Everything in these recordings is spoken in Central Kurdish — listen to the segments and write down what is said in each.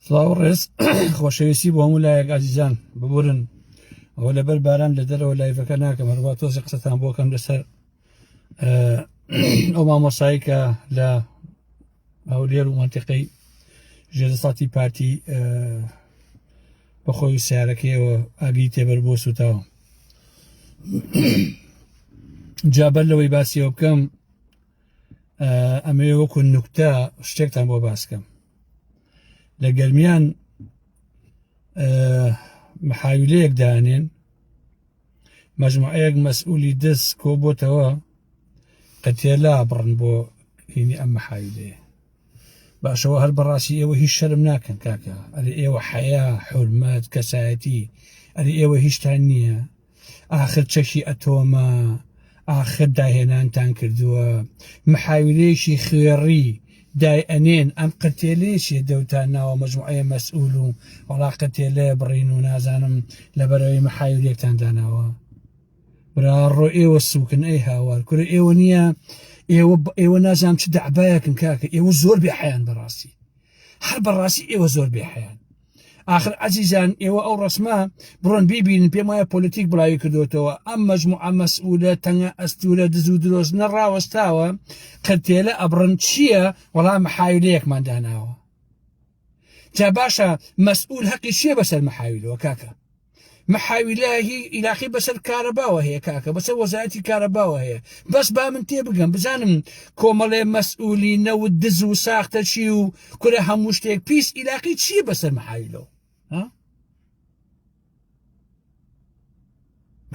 سڵاو ڕێز خۆشەویستی بۆ هەموو لایەک ئازیزان ببورن ئەوە لەبەر باران لە دەرەوە لایڤەکە ناکەم هەروە تۆزی قسەتان بۆکەم لەسەر ئەو مامۆسایی کە لە هەولێر و منتیقەی ژێدەساتی پارتی بەخۆی و سیارەکەیەوە ئاگری تێبەر بۆ سوتاوە جابەر لەوەی باسیەوە بکەم ئەمەوێ وەکو نوکتە شتێکتان بۆ باسکەم لە گەرمیان محاویلەیەک دانێن مەجموعەیەک مەسئولی دەست کۆ بۆتەوە قەتێلا بڕن بۆ هینی ئەم محاویلەیە باشەوە هەر بەڕاستی ئێوە هیچ شەرم ناکەن کاکە ئەرێ ئێوە حەیا حرمەت کەسایەتی ئەرێ ئێوە هیچتان نییە ئاخر چەکی ئەتۆمە ئاخر داهێنانتان کردووە محاویلەیەکی خوێڕی دای ئەنێن ئەم قەتێلێشێ دەوتان ناوە مەجموعەیە مەسئول و وڵا قەتێلەیە بڕین و نازانم لەبەرەوەی محاویلێکتان داناوە براڕۆ ئێوە سوکن ئەی هاوار کورە ئێوە نییە ئێوە ئێوە نازانام چ دەعبایەکن کاکە ئێوە زۆر بێ حیان بەڕاستی هەر بەڕاستی ئێوە زۆر بێ حیان آخر ئازیزان ئێوە ئەو ڕسمە بڕۆن بیبین پێم وایە پۆلیتیک بڵاوی کردوتەوە ئەم مەجموعە مەسئولە تەنگە ئەستورە دز و درۆزنە ڕاوەستاوە کەتێلە ئەبڕن چییە وەڵام حاویلەیەکمان داناوە جا باشە مەسئول هەقی چیە بەسەر محاویلەوە کاکە محاویلە هی عیراقی بەسەر کارەباوە هەیە کاکە بەسەر وەزارەتی کارەباوە هەیە بەس با من تێ بگەم بزانم کۆمەڵێ مەسئولی نەوت دز و ساختە چی و کورە هەموو شتێک پیس عیراقی چیە بەسەر محاویلەوە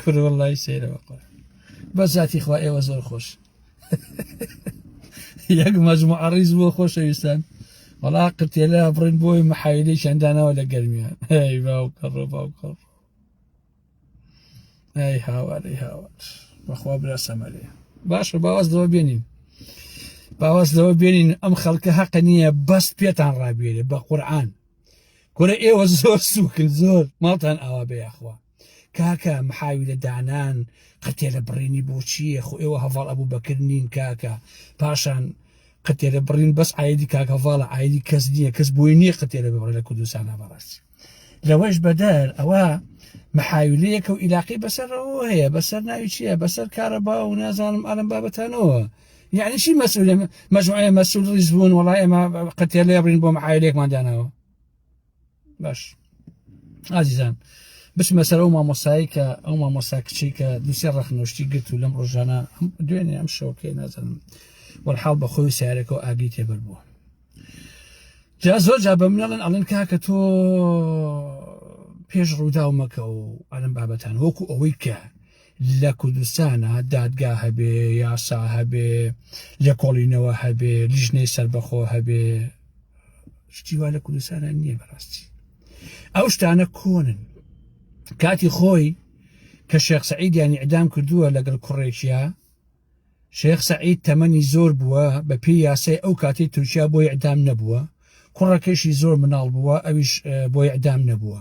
کروڵای سەیرەوە قڕ بە زیاتی خوا ئێوە زۆر خۆش یەک مەزمو عڕیز بۆ خۆشەویستان وەڵا قرتێلە بڕین بۆی محایدەی چەندانەوە لە گەرمیان هەی باو کەڕ باو کەڕ ئەی هاوارەی هاوار بەخوا برا سەمەرێ باشە باواز لەوە بێنین باواز لەوە بێنین ئەم خەڵکە هەقە نییە بەست پێتان ڕابێرێ بە قورآان کورە ئێوە زۆر سوکن زۆر ماڵتان ئاوا بەیاخوا کاکە محاوی لە دانان قەتێ لە بڕینی بۆچیە خۆ ئێوە هەواڵ ئەبوو بەکرد نین کاکە پاشان قەتێرە بڕین بەس ئایدی کاکە هەواڵە ئایدی کەس نییە کەس بۆی نییە قەتێرە ببڕێ لە کوردستان هەبڕاست لەوەش بەدەر ئەوە محاولەیەکە و عیلاقی بەسەرەوە هەیە بەسەر ناوی چییە بەسەر کارەبا و نازانم ئەلم بابەتانەوە یەعنی چی مەسئولە مەجموعەیە مەسئول ڕیز بوون وەڵای ئێمە قەتێلە ئەبرین بۆ معایلێکمان داناوە باش ئازیزان بچمە سەر ئەو مامۆسایی کە ئەو مامۆسا کچی کە دوسێ ڕەخنۆشتی گرت و لەم ڕۆژانە دوێنێ ئەم شەوکەی نازانم وەرحاڵ بە خۆی سیارەکە و ئاگری تێبەر بووە جا زۆر جا بە منەڵن ئەڵێن کاکە تۆ پێش ڕووداو مەکە و ئەلم بابەتان وەکو ئەوەی کە لە کوردستانا دادگا هەبێ یاسا هەبێ لێکۆڵینەوە هەبێ لیژنەی سربەخۆ هەبێ شتیوا لە کوردستانە نییە بەڕاستی ئەو شتانە کۆنن کاتی خۆی کە شێخ سعیدیانی ئەدام کردووە لەگەڵ کوڕێکیە شێخ سەعید تەمەنی زۆر بووە بە پێی یاسای ئەو کاتی تورکیا بۆی ئەدام نەبووە کوڕەکەشی زۆر مناڵ بووە ئەویش بۆی ئەدام نەبووە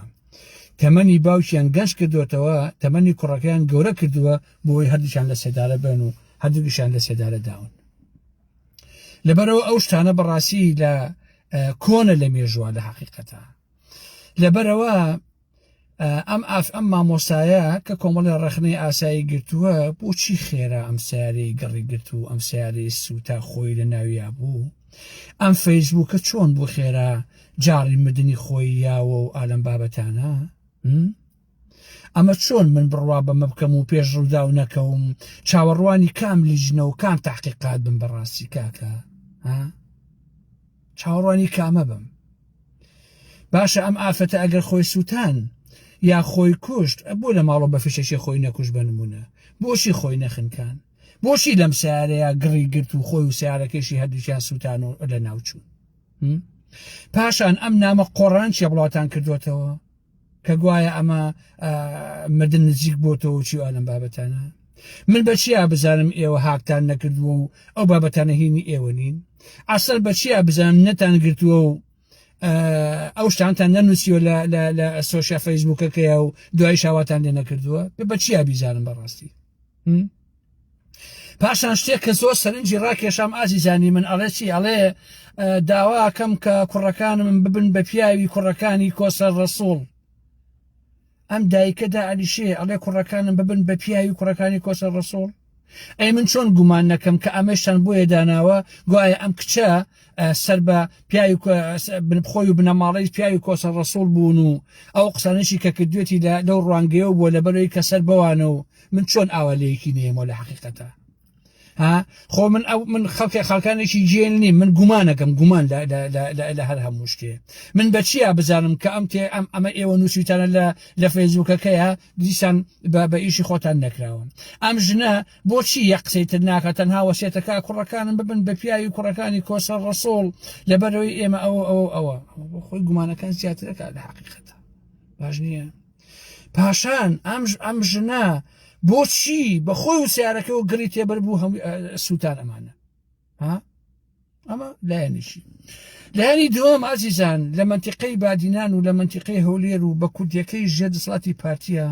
تەمەنی باوکیان گەنج کردوێتەوە تەمەنی کوڕەکەیان گەورە کردووە بۆی هەردووشان لە سێدارە بن و هەردووگیشان لە سێدارە داون لەبەرەوە ئەو شتانە بەڕاستی لە کۆنە لە مێژووە لە حقیقەتە لەبەرەوە ئەم ئاف ئەم مامۆسایە کە کۆمەڵی ڕەخنەی ئاسایی گرتووە بۆچی خێرا ئەم سیارەی گەڕی گرت و ئەم سیارەی سوتا خۆی لە ناویا بوو ئەم فەیسبووکە چۆن بۆ خێرا جاڕی مردنی خۆی یاوە و ئالم بابەتانە؟ ئەمە چۆن من بڕوا بەمە بکەم و پێش ڕوودا و نەکەوم چاوەڕوانی کام لیژنە و کام تاقیقات بم بەڕاستی کاکە ها؟ چاوەڕوانی کامە بم باشە ئەم ئافرەتە ئەگەر خۆی سووتان یا خۆی کوشت بۆ لە ماڵۆ بە فیشەکی خۆی نەکوش بنمونە بۆچی خۆی نەخنکان بۆچی لەم سیارەیە گڕی گرت و خۆی و سیارەکەشی هەردووکیان سووتان و لە ناوچوون پاشان ئەم نامە قۆڕان چێ بڵاتان کردوێتەوە کە گوایە ئەمە مردن نزیک بۆتەوە چی ئەم بابەتانە من بەچیا بزانم ئێوە هاکتان نەکردووە و ئەو بابەتانە هینی ئێوە نین ئەسەر بەچیا بزانم نەتان گرتووە و ئەو شتانتان نەنووسیوە لە سۆشیا فەیسبووکەکەیە و دوای شاواتان لێ نەکردووە بە چیا بیزانم بەڕاستی پاشان شتێک کە زۆر سەرنجی ڕاکێشام ئازیزانی من ئەڵێ چی ئەڵێ داواکەم کە کوڕەکانم ببن بە پیاوی کوڕەکانی کۆسەر ڕسوڵ ئەم دایکەدا ئەلیشێ ئەڵێ کوڕەکانم ببن بە پیاوی کوڕەکانی کۆسەر ڕسوڵ ئەی من چۆن گومان نەکەم کە ئەمەشتان بۆیە داناوە گوایە ئەم کچە سەر بە پیاوی بنبخۆی و بنەماڵی پیاوی کۆسە ڕسوول بوون و ئەو قسانشی کە کردوێتی لە لەو ڕوانگەیە بووە لە بەرەوەی کە سەر بەوانە و من چۆن ئاوا لەیەکی نێمەوە لە حقیقەتە ها خۆ من ئەو من خەڵکە خەڵکانێکی جێل نیم من گومانەکەم گومان لە هەر هەموو شتێ من بەچیا بزانم کە ئەم تێ ئەم ئەمە ئێوە نووسیتانە لە لە فەیزوکەکەیە دیسان بە ئیشی خۆتان نەکراون ئەم ژنە بۆچی یە قسەی تر ناکە تەنها وەسێتەکە کوڕەکانم ببن بە پیاوی کوڕەکانی کۆسە ڕسۆڵ لەبەرەوەی ئێمە ئەوە ئەوە ئەوە خۆی گومانەکان زیاترەکە لە حقیقەتە باش نییە پاشان ئەم ئەم ژنە بۆچی بە خۆی و سیارەکەەوە گڕی تێبەر بوو هەم سووتان ئەمانە ها ئەمە لایەنیشی لایانی دووەم ئازیزان لە منتیقەی بادینان و لە منتیقەی هەولێر و بە کوردیەکەی ژێ دەسڵاتی پارتیە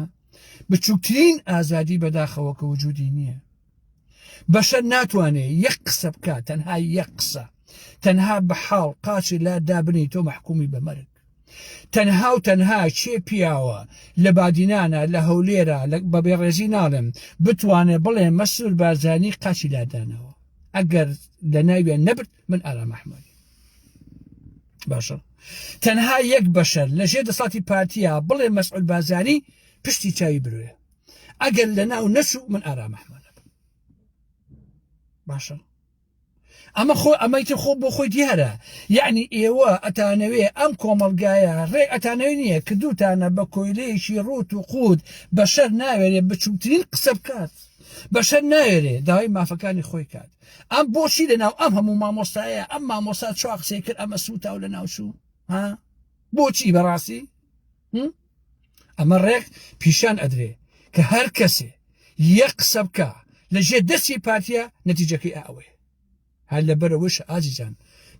بچووکترین ئازادی بەداخەوە کە وجودی نییە بەشەر ناتوانێت یەک قسە بکات تەنها یەک قسە تەنها بە حاڵ قاچی لا دابنی تۆ مححکومی بە مەرگ تەنها و تەنها چێ پیاوە لە بادینانە لە هەولێرە بە بێڕێزی ناڵێم بتوانێت بڵێ مەسرور بارزانی قاچی لادانەوە ئەگەر لە ناویان نەبرد من ئارا مححمەدی باشە تەنها یەک بەشەر لە ژێ دەسڵاتی پارتیا بڵێ مەسعود بازانی پشتی چاوی بروێ ئەگەر لە ناو نەچوو من ئارا مححمەدە باشە ئەمە خۆ ئەمەی تر خۆ بۆ خۆی دیارە یعنی ئێوە ئەتانەوێ ئەم کۆمەلگایە ڕێ ئەتانەوێ نییە کە دووتانە بە کۆیلەیەکی ڕوت و قووت بەشەر ناوێرێ بچووکترین قسە بکات بەشەر ناوێرێ داوای مافەکانی خۆی کات ئەم بۆچی لە ناو ئەم هەموو مامۆستایە ئەم مامۆستا چوا قسەی کرد ئەمە سووتا و لە ناوچوو ها بۆچی بەڕاستی ئەمە ڕێک پیشان ئەدرێ کە هەر کەسێ یە قسە بکە لە ژێ دەستی پارتیە نەتیجەکەی ئەوەیە هەر لەبەرەوەش ئازیزان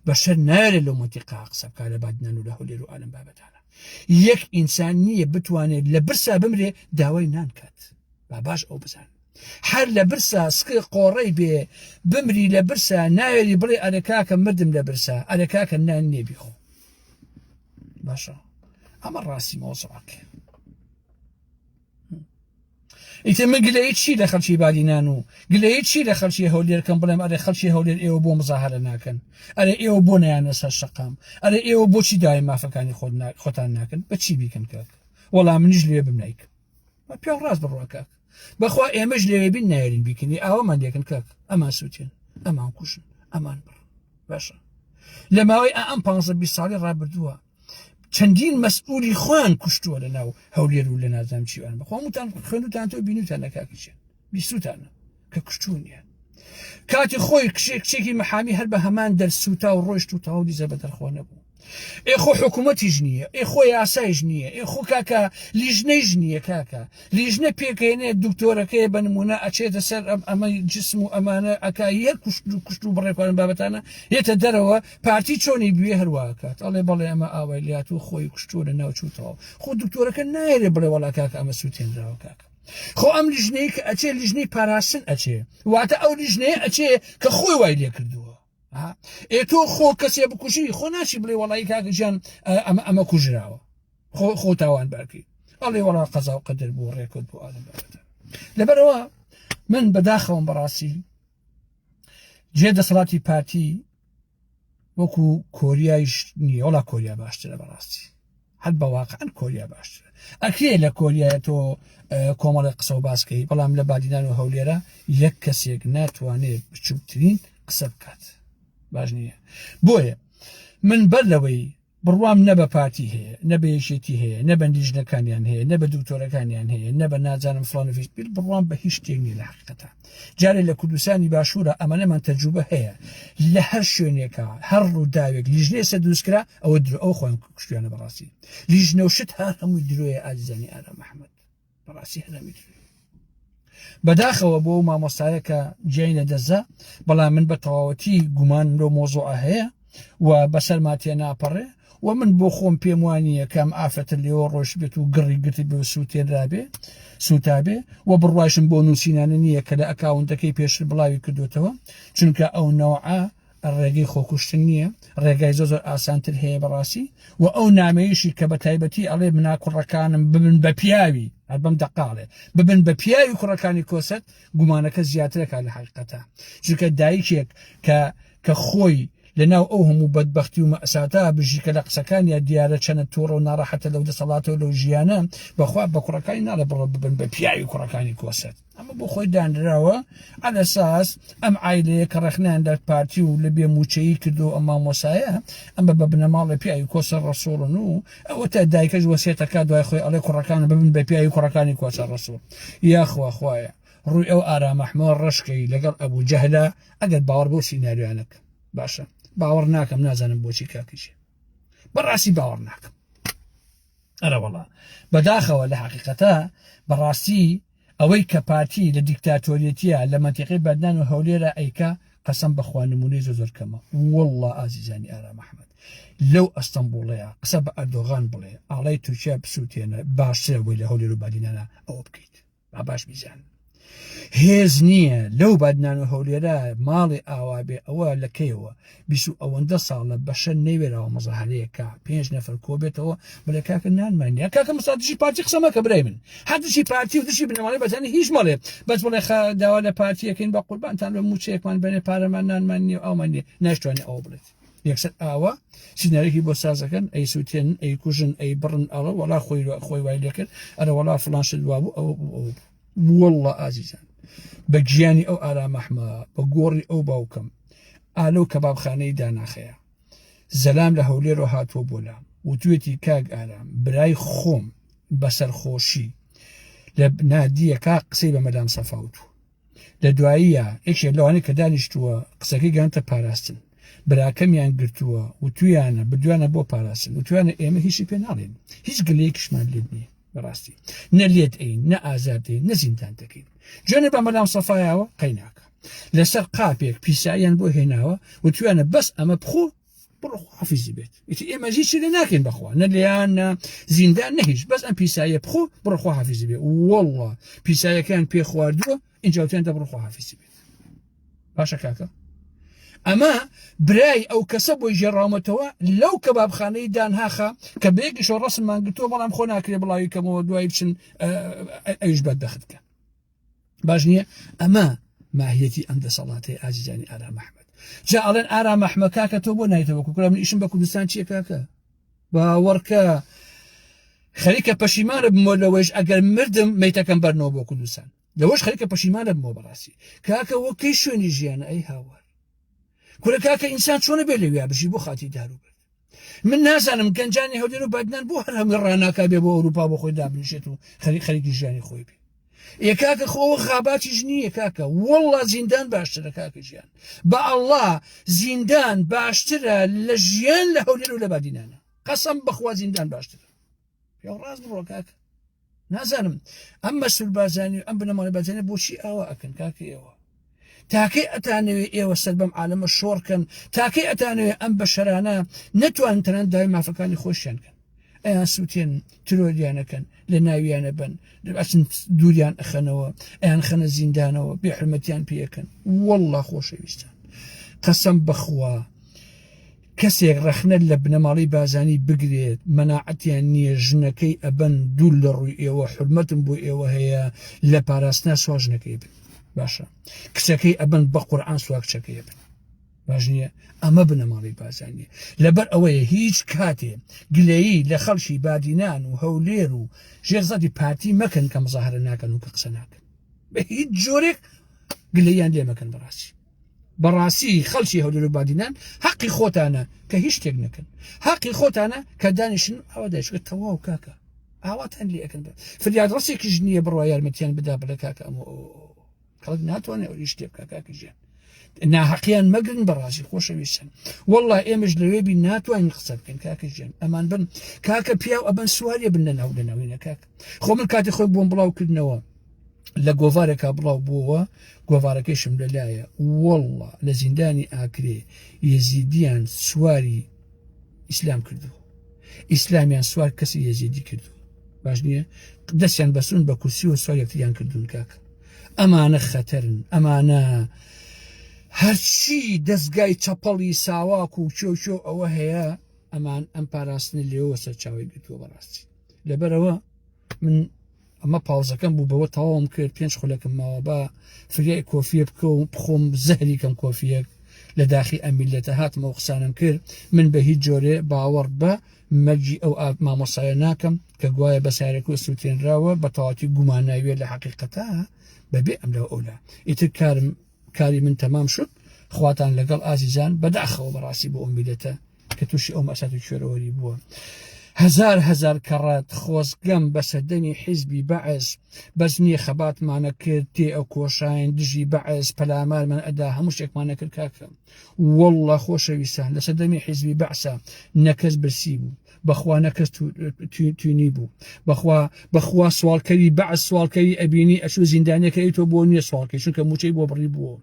بەشەر نارێ لەو منتیقا قسە بکە لە بادنان و لە هەولێر و ئالم بابەتانە یەک ئینسان نییە بتوانێت لە برسا بمرێ داوای نانکات با باش ئەو بزان هەر لە برسا سکە قۆڕەی بێ بمری لە برسا ناوێری بڵێ ئەرەکاکە مردم لە برسا ئەرەکاکە نان نێبیخۆ باشە ئەمە ڕاستی مۆزڕاک ئیتر من گلەی چی لە خەلکی بادینان و گلەی چی لە خەلکی هەولێرکەم بڵێم ئەرێ خەلکی هەولێر ئێوە بۆ مزاهرە ناکەن ئەرێ ئێوە بۆ نیانە سەر شقام ئەرێ ئێوە بۆچی داوای مافەکانی خۆتان ناکەن بەچی بیکەن کاک وەڵام منیش لێ بم نیکە پێڵ ڕاست بڕوە کاک بەخوا ئێمەش لەوێ بین نایرین بیکردی ئاوامان دەکەن کاک ئەمان سووتێن ئەمان کوشن ئەمان بڕ باشە لە ماوەی ئەم پ ساڵی ڕابردووە چەندین مەسئولی خۆیان کوشتووە لە ناو هەولێر و لە نازام چیوان بەخۆمتان خوێنتان تۆ بینوتان نەکاکیچێن بیستوتانە کە کوشتونیان کاتی خۆی کشێک کچێکی محامی هەر بە هەمان دەرسوتا و ڕۆشت و تاو دیزە بە دەرخۆ نەبوو ئێخۆ حکوومەتیش نییە ئێخۆ یاسایش نییە ئێخۆ کاکە لیژنەیش نییە کاکە لیژنە پێکێنێ دکتۆرەکەی بە نمونە ئەچێتە سەر ئەم ئەمەی جسم و ئەمانە ئەکایی هەر کوشت و کوشت و بڕێکوان بابەتانە یێتە دەرەوە پارتی چۆنی بوێ هەرواکات ئەڵێ بەڵێ ئەمە ئاوای لات و خۆی کوشتووە لە ناوچوتەوە خۆ دکتۆرەکە نایرێ بڵێ وڵا کاکە ئەمە سووتێنراوە کاکە خۆ ئەم لیژنەیە کە ئەچێ لیژنەی پاراستن ئەچێ واتە ئەو لیژنەیە ئەچێ کە خۆی وای لێ کردووە ئێ تۆ خۆ کەسێ بکوژی خۆ ناچی بڵێ وڵی کاکەژیان ئەمە ئەمە کوژراوە خۆ خۆ تاوان بارکی ئەڵێ وڵا قەزا و قەدر بۆ ڕێکوت بۆ ئالم لەبەرەوە من بەداخەوەم بەڕاستی جێ دەسەڵاتی پارتی وەکو کۆریایش نیە وڵا کۆریا باشترە بەڕاستی هەر بەواقعەن کۆریا باشترە ئەکرێ لە کۆریایە تۆ کۆمەڵی قسە و باسکەی بەڵام لە بادینان و هەولێرە یەک کەسێک ناتوانێت بچووکترین قسە بکات باش نییە بۆیە من بەر لەوەی بڕوام نە بە پارتی هەیە، نە بە یەکێتی هەیە، نە بە لیژنەکانیان هەیە، نە بە دکتۆرەکانیان هەیە، نە بە نازانم فڵان و فیش، بیر بڕوام بە هیچ شتێک نییە لە حەقیقەتا. جارێ لە کوردستانی باشوورا ئەمەنەمان تەجروبە هەیە، لە هەر شوێنێکا، هەر ڕووداوێک لیژنەی سەر دروست کرا، ئەوە درۆ، ئەوە خۆیان کوشتویانە بەڕاستی. لیژنە و شت هەر هەمووی درۆیە ئازیزانی ئارام محەمەد. بەڕاستی هەرەویت بەداخەوە بۆ و مامۆستایە کە جیای لە دەزە بەڵام من بە تەواوەتی گومان لۆ مۆزۆع هەیە و بەسەر ماتێ ناپەڕێ و من بۆ خۆم پێم وانییە کەم ئافرەتە لێەوە ڕۆژ بێت و گڕی گرتی بێ سووتێنرابێ سوتابێ و بڕواژم بۆ نووسینانە نییە کە لە ئەکاونتەکەی پێشتر بڵاوی کردوتەوە چونکە ئەو نەوە ڕێگەی خۆکوشتن نییە ڕێگای زۆ زۆر ئاسانتر هەیە بەڕاستی و ئەو نامەیەشی کە بە تایبەتی ئەڵێ منا کوڕەکانم ببن بە پیاوی هەر بەم دەقاڵێ ببن بە پیاوی کوڕەکانی کۆسەت گومانەکە زیاترەکە لە حقیقەتە چونکە دایکێک کە کە خۆی لەناو ئەو هەموو بەدبختی و مەساتا بژی کە لە قسەکان یا دیارە چەنە تۆڕە و ناڕەحەتە لەو دەسەڵاتەوە لەو ژیانە بەخوا بە کوڕەکانی ناڵێ بڕۆ ببن بە پیاوی کوڕەکانی کۆسەت ئەمە بۆ خۆی دانراوە ئەلەساس ئەم ئایلەیە کە ڕخنیان دەر پارتی و لە بێ موچەیی کردو ئەم مامۆسایە ئەمە بە بنەماڵە پیاوی کۆسە ڕسوڵن و ئەوە تا دایکەش وەسێتەکە دوای خۆی ئەڵێ کوڕەکان ببن بە پیاوی کوڕەکانی کۆچە ڕسوول یاخوا خوایە ڕووی ئەو ئارامەحمە ڕشکەی لەگەڵ ئەبوو جەهلا ئەگەر باوەڕ بۆ سینناریوانەکە باشە باوەڕ ناکەم نازانم بۆچی کاکیشێ بەڕاستی باوەڕ ناکەم ئەرەوەڵا بەداخەوە لە حقیقەتە بەڕاستی ئەوەی کە پارتی لە دیکتاتۆریەتیە لە مەنتیقەی بەدنان و هەولێرا ئەیکا قەسەم بەخوا نمونەی زۆر زۆر کەمە واللە ئازیزانی ئارام ئەحمەد لەو ئەستەمبوڵەیە قسە بە ئەردۆغان بڵێ ئاڵای تورکیا بسووتێنە باشترە بۆی لە هەولێر و بادینانا ئەوە بکەیت با باش بیزان هێز نییە لەو بادنان و هەولێرا ماڵی ئاوا بێ ئەوە لە کەیەوە بیست و ئەوەندە ساڵە بەشەر نەیوێراوە مەزەهەرەیەکە پێنج نەفەر کۆبێتەوە بڵێ کاکە نانمانیا کاکە مسادشی پارتی قسەمە کە برای من حەدشی پارتی و دشی بنەماڵی بەزانی هیچ مەڵێ بەس بڵێ خە داوا لە پارتیەکەین بە قوربانتان بە موچەیەکمان بەێ پارەمان نانمان نیە ئەومان نیە ناشتوانێت ئەوە بڵێت یەکسەر ئاوا سینەرێکی بۆ سازەکەن ئەی سووتێن ئەی کوژن ئەی بڕن ئەڵە وڵا خۆی خۆی وای لەکرد ئەرە وڵا فلانشت وابوو ئەوە بوو ئەوە بوو واللە ئازیزان بە گیانی ئەو ئارامەحمە بە گۆڕی ئەو باوکم ئالۆ کە بابخانەی داناخەیە زەلام لە هەولێرۆ هاتووە بۆ لام وتوێتی کاک ئارام برای خۆم بەسەرخۆشی لە نادیەکە قسەی بە مەدام سەفاوتو لە دواییە یەکێ لەوانەیە کە دانیشتووە قسەکەی گەنتە پاراستن براکەمیان گرتووە و تویانە بدویانە بۆ پاراستن و توانە ئێمە هیچی پێ ناڵێن هیچ گلەیەکیشمان لێ نیە بەڕاستی نە لێت ئەین نە ئازادی نە زیندان دەکەین جوێنە بە مەلام سەفایەوە قەیناکە لەسەر قاپێک پیساییان بۆ هێناوە و توانە بەس ئەمە بخۆ بڕخوافیزی بێت ئیتی ئێمە هیچ لێ ناکەین بەخوا نە لیان نە زیندان نەهیش بەس ئەم پیسایە بخۆ بڕخوا حافیزی بێ وەڵڵا پیسایەکان پێ خواردووە ئینجا وتیان دەبڕۆ خواحافیزی بێت باشە کاکە ئەمە برای ئەو کەسە بۆی ژێڕاومەتەوە لەو کەبابخانەی دانهاخە کە بێکیشەوە ڕسممان گرتووە بەڵام خۆ ناکرێ بڵاوی کەمەوە دوای بچن ئەوش بەدەختکە باش نییە ئەمە ماهیەتی ئەم دەسەڵاتی ئازیزانی ئارا مححمد جا ئەڵێن ئارا مححمە کاکە تۆ بۆ نایتەوە کوکرا من ئیشم بە کوردستان چیە کاکە باوەڕکە خەریکە پەشیمانە بمۆ لەوەیش ئەگەر مردم میتەکەم بەرنەوە بۆ کوردستان لەوەش خەریکە پەشیمان ئەبمەوە بەڕاستی کاکە وە کەی شوێنی ژیانە ئەی هاوار کورە کاکە ئینسان چۆنە بێ لەویا بژی بۆ خاتی دارو برد من نازانم گەنجانی هەولێر و بادنان بۆ هەر هەمووی ڕناکا بێ بۆ ئەوروپا بۆ خۆی دابنیشێت و خەری خەریکی ژیانی خۆی بێ یە کاکە خۆوە خاباتیش نییە کاکە وەڵا زیندان باشترە کاکە ژیان بە ئەڵا زیندان باشترە لە ژیان لە هەولێر و لە بادینانە قەسم بخوا زیندان باشترە پێ ڕاست بڕۆ کاک نازانم ئەم مەسول بازانی ئەم بنەماڵی بەجێنە بۆچی ئاوا ئەکەن کاکە ئێوە تاکەی ئەتانەوێ ئێوە سەر بەم عالەمە شۆڕکەن تاکەی ئەتانەوێ ئەم بەشەرانە نەتوان تەنان داوای مافەکانی خۆشیان کەن ئەیان سووتێن ترۆریانەکەن لە ناویانە بن ئەچن دووریان ئەخەنەوە ئەیان خەنە زیندانەوە بێحرمەتیان پێەکەن والله خۆشەویستان قەسم بخوا کەسێک ڕەخنە لە بنەماڵەی بازانی بگرێت مەناعەتیان نیە ژنەکەی ئەبەن دوور لە ڕووی ئێوە حورمەتم بۆ ئێوە هەیە لە پاراستنا سوا ژنەکەی بن باشە کچەکەی ئەبەن بە قورآن سوا کچەکەی بن باش نییە ئەمە بنەماڵی بازانیە لەبەر ئەوەیە هیچ کاتێ گلەیی لە خەڵکی بادینان و هەولێر و ژێرزەتی پارتی مەکەن کە مزاهرە ناکەن و کە قسە ناکەن بە هیچ جۆرێک گلەیان لێ مەکەن بەڕاستی بەڕاستی خەڵکی هەولێر و بادینان حەقی خۆتانە کە هیچ شتێک نەکەن حەقی خۆتانە کە دانیشن ئەوە دەشکە تەواو کاکە ئاواتان لەکەن فریاد ڕستێکی ژنیە بڕوا یارمەتیان بدا بڵێ کاکە ئەم کەڵک ناتوانێت ئەو شتێ بکە کاکەژیان ناحەقیان مەگرن بەڕاستی خۆشەویستن والله ئێمەش لەوێ بی ناتوانین قسە بکەین کاکەژیان ئەمان بن کاکە پیاو ئەبەن سوواریە بنەناو لەناوینە کاک خۆ من کاتی خۆی بۆم بڵاوکردنەوە لە گۆڤارێکا بڵاو بووەوە گۆڤارەکەیشم لەلایە وەڵڵا لە زیندانی ئاکرێ یزیدیان سواری ئیسلام کردو ئیسلامیان سوار کەسی یزیدی کردو باش نییە دەستیان بەسون بە کورسی و سوار یەکتریان کردوون کاکە ئەمانە خەتەرن ئەمانە هەرچی دەستگای چەپەڵی ساواک و چۆچۆ ئەوە هەیە ئەمان ئەم پاراستنی لێەوە سەرچاوی گرتووە بەڕاستی لەبەرەوە من ئەمە پاوزەکەم بوو بەوە تەواوم کرد پێنج خولەکەم ماوە بە فریای کۆفیە بکە و بخۆم زەهری کەم کۆفیەک لە داخی ئەمیلەتە هاتمە و قسانم کرد من بە هیچ جۆرێ باوەڕ بە مەرجی ئەو ئاک مامۆسایە ناکەم کە گوایە بە سارێکۆ سووتێنراوە بە تەواتی گوماناویە لە حقیقەتە بەبێ ئەم لەو ئەولا ئیتر کارم کاری من تەمام شد خواتان لەگەڵ ئازیزان بەداخەوە بەڕاستی بۆ ئەمیلەتە کە تووشی ئەو مەسات و کوێرەوەری بووە هزار هزار کەڕەت خۆزگەم بە سەردەمی حیزبی بەعس بەس نییە خەباتمانە کرد تێ ئەو کۆشاین دژی بەعس پەلامارمان ئەدا هەموو شتێکمانە کرد کاکەم والله خۆشەویستان لە سەردەمی حیزبی بەعسە نەکەس برسی بوو بەخوا نەکەس توینی بوو بەخوا بەخوا سواڵکەری بەعس سواڵکەری ئەبینی ئەچوو زیندانیەکە ئەی تۆ بۆ نییە سواڵکەی چونکە موچەی بۆ بڕی بووە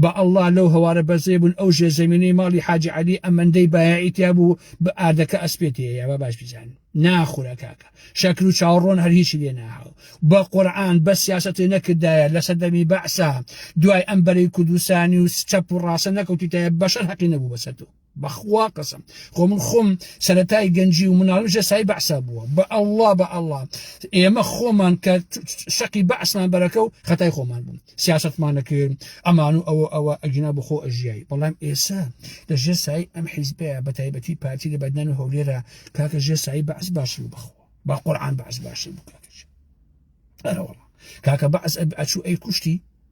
بە ئەڵا لەو هەوارە بەرزەی بوون ئەو ژێ زەمینەی ماڵی حاجی عەلی ئەمەندەی بایاعی تیا بوو بە ئاردەکە ئەسپێتی یا با باش بیزان ناخورا کاکە شەکر و چاوەڕۆن هەر هیچی لێ ناهاو بە قورعان بە سیاسەتی نەکردایە لە سەردەمی بەعسا دوای ئەم بەرەی کوردستانی و چەپ و ڕاسە نەکەوتیتایە بەشەر هەقی نەبوو بەسەر تۆ بەخوا قەسەم خۆ من خۆم سەتای گەنجی و مناڵم ژە سای بەعسا بووە بە ئەله بە ئەله ئێمە خۆمان کە شەقی بەعسمان بەرەکە و خەتای خۆمان بووم سیاستمانە کرد ئەمان و ئەوە ئەوە ئەگینا بخۆ ئەژیایی بەڵام ئێسا لە ژێ سای ئەم حیزبەیە بە تایبەتی پارتی لە بەدنان و هەولێرە کاکە ژێ سای بەعس باشی و بخۆ با قورآان بەعس باشی بکاتش ئەرەوەڵ کاکە بەعس ئەچوو ئەی کوشتی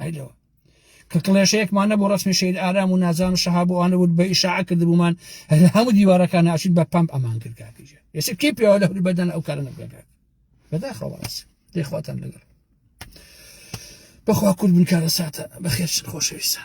ئەیلەوە کە کڵێشەیەکمان نەبوو ڕسمی شید ئارام و نازان و شەها بۆ ئەوانە بوو بە ئیشاع کردبوومان هەر هەموو دیوارەکان ناشین بە پمپ ئەمان کردگاکیژە ئێستا کی پێوە لە هەوری بەدەن ئەو کارە نەبگەکات بەداخەوە ڕاست دەیخواتان لەگەڵ بەخوا کورد بن کارە ساتە بەخێر خۆشەویستان